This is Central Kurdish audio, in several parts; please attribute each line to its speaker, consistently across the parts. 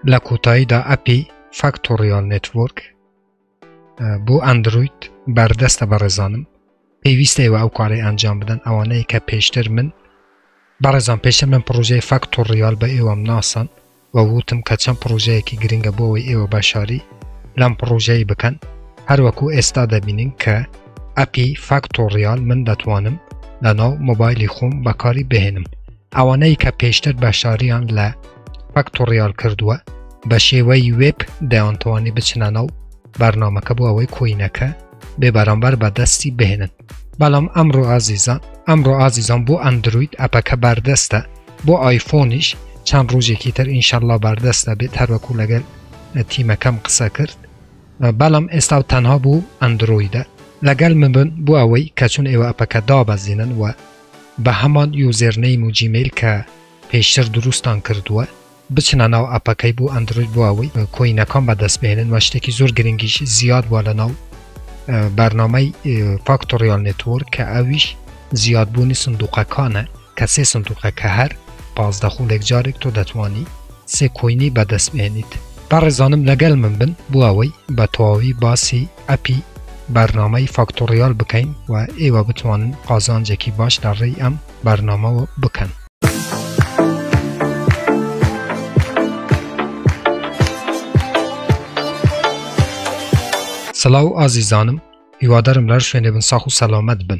Speaker 1: لە کۆتاییدا ئەپی فاکتۆریال نتورک بۆ ئەندروید بەردەستە بە ڕێزانم پێویستە ئێوە ئەو کارەی ئەنجام بدەن ئەوانەیە کە پێشتر من بەڕێزان پێشتر من پرۆژەی فاکتۆریال بە ئێوەم ناسان و وتم کە چەند پرۆژەیەکی گرنگە بۆەوەی ئێوە بەشاری لەم پرۆژەی بکەن هەروەکو ئێستا دەبینین کە ئەپی فاکتۆریال من دەتوانم لە ناو مۆبایلی خۆم بەکاری بهێنم ئەوانەی کە پێشتر بەشداریان لە فەکتۆڕیال کردووە بە شێوەی وێب دەیانتوانی بچنانە و بەرنمەکە بۆ ئەوەی کۆینەکە بێ بەرامبەر بە دەستی بهێنن بەڵام ئەمڕۆ ئازیزان ئەمڕۆ ئازیزان بۆ ئەندروید ئەپەکە بەردەستە بۆ ئایفۆنیش چەند ڕۆژێکی تر ئینشەڵا بەردەستە بێت هەروەکو لەگەل تیمەکەم قسە کرد بەڵام ئێستا و تەنها بوو ئەندرویدە لەگەل من بن بۆ ئەوەی کە چون ئێوە ئەپەکە دابەزینن و بە هەمان یوزێرنەیم و جیمەیل کە پێشتر دروستان کردووە بچنە ناو ئەپەکەی بۆ ئەندرۆید بۆ ئەوەی کۆینەکان بەدەست بهێنن وە شتێکی زۆر گرنگیش زیاد بووە لە ناو بەرنامەی فاکتۆریال نێتۆر کە ئەویش زیادبوونی سندوقەکانە کە سێ سندوقە کە هەر پازدە خولێک جارێک تۆ دەتوانی سێ کۆینی بەدەست بێنیت بەڕێزانم لەگەل من بن بۆ ئەوەی بە تەواوی باسی ئەپی بەرنامەی فاکتۆڕیال بکەین و ئێوە بتوانن قازانجێکی باش لە ڕێی ئەم بەرنامەوە بکەن. سلاو ئازیزانم هیوادارم لەر شوێنێ بن ساخ و سەلامەت بن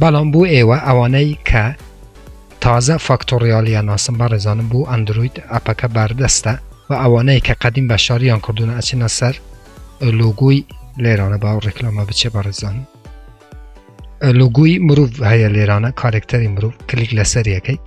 Speaker 1: بەڵام بۆ ئێوە ئەوانەی کە تازە فاکتۆڕیالیان ناسن بەڕێزانم بۆ ئەندرۆید ئەپەکە بەردەستە وە ئەوانەی کە قەدیم بەشداریان کردوونە ئەچنە سەر لۆگۆی لێرانە با ڕێکلامە بچێ بەڕێزانم لۆگۆی مرۆڤ هەیە لێرانە کارێکتەری مرۆڤ کلیک لەسەر یەکەیت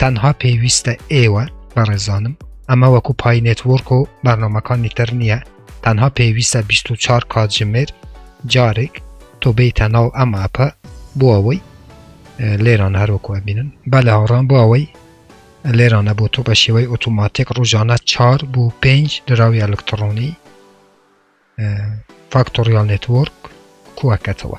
Speaker 1: تەنها پێویستە ئێوە بەڕێزانم ئەمە وەکو پای نێتوەرک و بەرنمەکانی تر نییە تەنها پێویستە 24 کاتژمێر جارێک تۆ بیتە ناو ئەم ئەپە بۆ ئەوەی لێران هەروەکو بینن بە لە هاڕان بۆ ئەوەی لێرانە بۆ تۆ بە شێوەی ئۆتوماتیک ڕژانە چار بۆ پێنج دراوی ئەلکترۆنی فاکتۆریال نێتوەرک کوەکەتەوە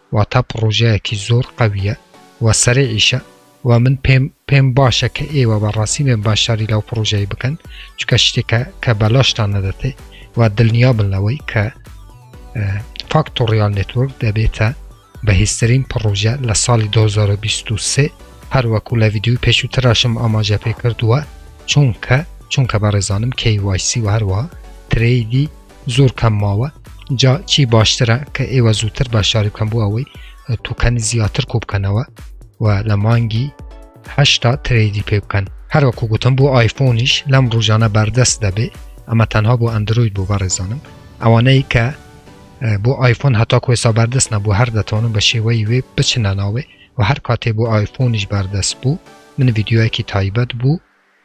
Speaker 1: واتا پڕۆژەیەکی زۆر قەویە و سەریعیشە و من پێم پێم باشە کە ئێوە بە ڕاستی بێن باشداری لەو پڕۆژەی بکەن چکە شتێکە کە بەلاشتان نەدەتێ و دڵنیا بن لەوەی کە فاکتۆریال نتورک دەبێتە بەهێزترین پڕۆژە لە ساڵی 2023 هەروەکو لە ویددیوی پێشووتراشم ئاماژە پێ کردووە چونکە چونکە بەڕێزانم KYC و هەروە ترەیدی زۆر کەم ماوە جا چی باشترە کە ئێوە زووتر بە شاری بکەم بۆ ئەوەی توکەنی زیاتر کۆ بکەنەوە و لە مانگی هشتا ترێدی پێ بکەن هەروەکو گوتم بۆ ئایفۆنیش لەم ڕژانە بەردەست دەبێ ئەمە تەنها بۆ ئەندروید بۆ بەڕێزانم ئەوانەی کە بۆ ئایفۆن هەتا کوێسا بەردەست نەبوو هەر دەتوانم بە شێوەی وێ بچنە ناوێ و هەر کاتێ بۆ ئایفۆنیش بەردەست بوو من یددیوەکی تایبەت بوو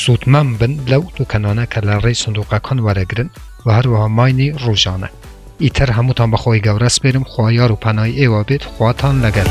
Speaker 1: سوودمەم بن لەو توکەنانە کە لە ڕێی سندوقەکان وەرەگرن و هەروەها ماینی ڕوژانە ئیتر هەمووتان بەخوای گەورە سپێرم خوا یار و پەنای ئێوە بێت خواتان لەگەل.